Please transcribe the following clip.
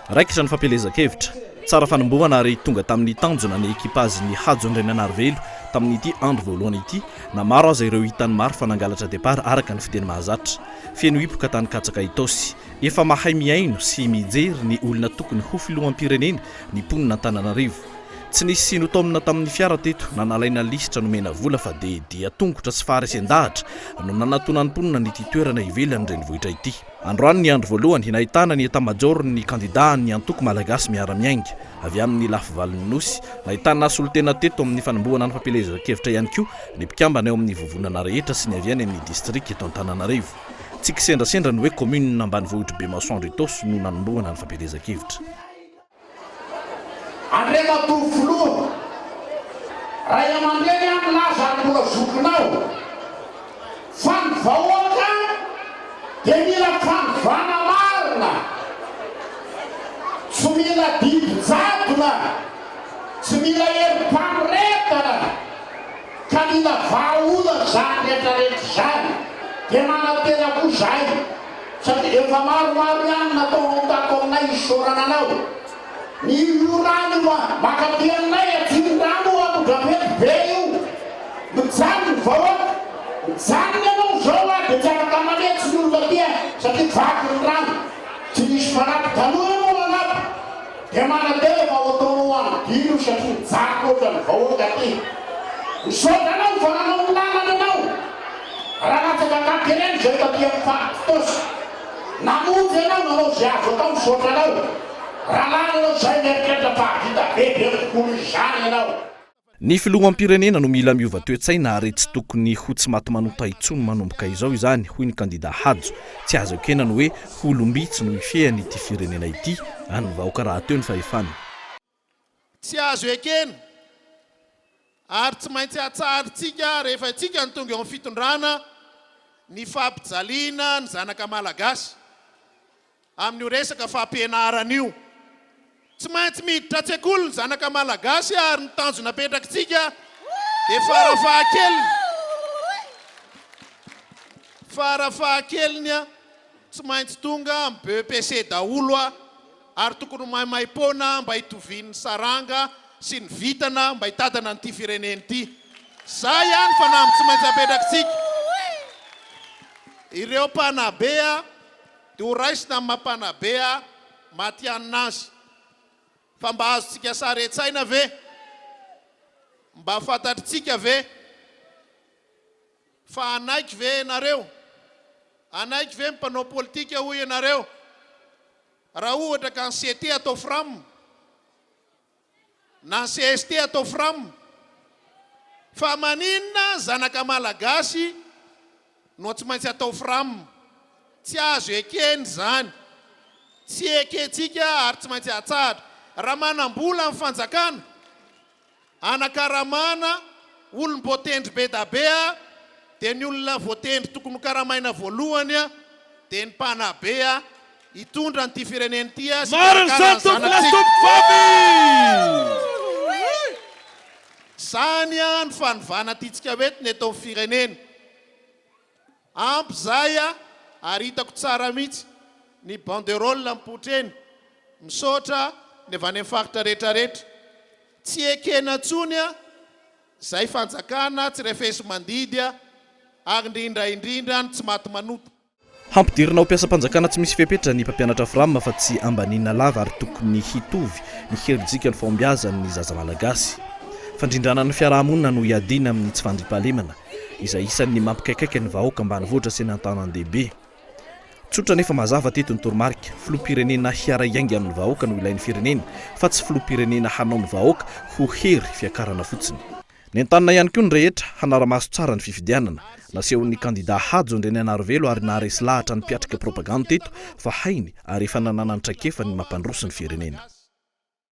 Raikitra ny fampielezan-kevitra. Tsara fanombohana ary tonga tamin'ny tanjona ny ekipazin'ny Hajo Andriananarivelo tamin'ity andro voalohany ity na maro aza ireo hitan'ny maro fa nangalatra depart araka ny fiteny mahazatra. Feno hipoka tany katsaka Itaosy. Efa mahay mihaino sy mijery ny olona tokony ho filoham-pirenena ny mponin'Antananarivo. Tsy nisy sino taomina tamin'ny fiara teto na nalaina lisitra nomena vola fa dia dia tongotra sy faharesen-dahatra no nanatonan'ny mponina an'ity toerana ivelan'ny renivohitra ity. Androany ny andro voalohany nahitana ny etamajaoron'ny kandidà an'ny antoko Malagasy miara-miainga avy amin'ny lafivalon'ny Nosy. Nahitana solontena teto amin'ny fanombohana ny fampielezan-kevitra ihany koa ny mpikambana eo amin'ny vovonana rehetra sy ny avy any amin'ny distrika eto Antananarivo. Tsy kisendrasendra ny hoe kaominina ambanivohitr'i Bemasoandro Itaosy no nanombohana ny fampielezan-kevitra. Andriamatoa Filoha, Ray aman-dreny aho milaza ary mbola zokinao fa ny vahoaka dia mila fanovana marina, tsy mila didy jadona, tsy mila herim-panoretana. Ka mila vahaolana izany rehetra rehetra izany dia manantena koa izahay satria efa maromaro ihany natao ao tato aminay isaorana anao ny io rano io a! Mankaty aminay aty ny rano io ato Drapety be io mijanona ny vahoaka mijanona ianao izao a dia tsy afaka manetsy ny olona aty a satria vaky ny rano tsy misy mpanampy taloha ianao nanampy Dia manantena fa ho tonga ho any Guy io satria mijaly loatra ny vahoaka aty. Misaotra anao fa nanao ny lalana ianao. Ranatsaka Katerine izay taty amin'ny faritry Tosy. Namonjy ianao nanao izay azo atao misaotra anao. Raha lany ianao izay mieritreritra fa hahavita bebe kokoa noho izany ianao. Ny filoham-pirenena no mila miova toe-tsaina ary tsy tokony ho tsy maty manota intsony manomboka izao izany, hoy ny kandida Hajo. Tsy azo ekena ny hoe ho olom-bitsy no hifehany ity firenena ity, an'ny vahoaka rahateo ny fahefana. Tsy azo ekena ary tsy maintsy hatsarintsika rehefa isika no tonga eo amin'ny fitondrana ny fampijaliana ny zanaka malagasy. Amin'io resaka fampianarana io. Tsy maintsy miditra an-tsekoly ny zanaka malagasy ary ny tanjona apetrakitsika dia farafahakeliny, farafahakeliny tsy maintsy tonga amin'ny BEPC daholo ary tokony ho maimaim-poana mba hitovian'ny saranga sy ny vintana mba hitantana an'ity firenena ity. Izay ihany fanamby tsy maintsy apetrakitsika. Ireo mpanabe. Dia ho raisina amin'ny maha-mpanabe matihanina azy. Fa mba azontsika sary an-tsaina ve? Mba fantatritsika ve? Fa hanaiky ve ianareo? Hanaiky ve ny mpanao politika hoy ianareo? Raha ohatra ka ny CT atao fram? Na cst atao fram. Fa maninona zanaka malagasy no tsy maintsy atao fram. Tsy azo ekena izany. Tsy ekentsika ary tsy maintsy atsahatra. Raha manambola ny fanjakana anakaramana olom-boatendry bedabea dia ny olona voatendry tokony ho karamaina voalohany dia ny mpanabe. Hitondra an'ity firenena ity sy hikarakara ny zanatsika. Izany no fanovana tiantsika ho entina eto amin'ny firenena. Ampy izay ary hitako tsara mihitsy ny banderole mipoitra eny. Misaotra ny avy any amin'ny faritra rehetra rehetra. Tsy ekena intsony izay fanjakana tsy refesi-mandidy ary indrindra indrindra ny tsy maty manota. Hampidirina ho mpiasam-panjakana tsy misy fepetra ny mpampianatra Fram fa tsy ambaniana lava ary tokony hitovy ny herijika ny fahombiazan' ny zaza malagasy. Fandrindrana ny fiarahamonina no iadiana amin'ny tsy fandriampahalemana, izay isan'ny mampikaikaika ny vahoaka ambanivohitra sy ny an-tanandehibe. Tsotra nefa mazava teto ny toromarika, filoham-pirenena hiaray aingana amin'ny vahoaka no ilain'ny firenena fa tsy filoham-pirenena hanao ny vahoaka ho hery fiakarana fotsiny. Nentanina ihany koa ny rehetra hanara-maso tsara ny fifidianana. Nasehon'ny kandidà Hajo Andrianainarivelo ary naharesy lahatra ny mpiatrika propagande teto fa hainy ary efa nananany traikefa ny mampandroso ny firenena.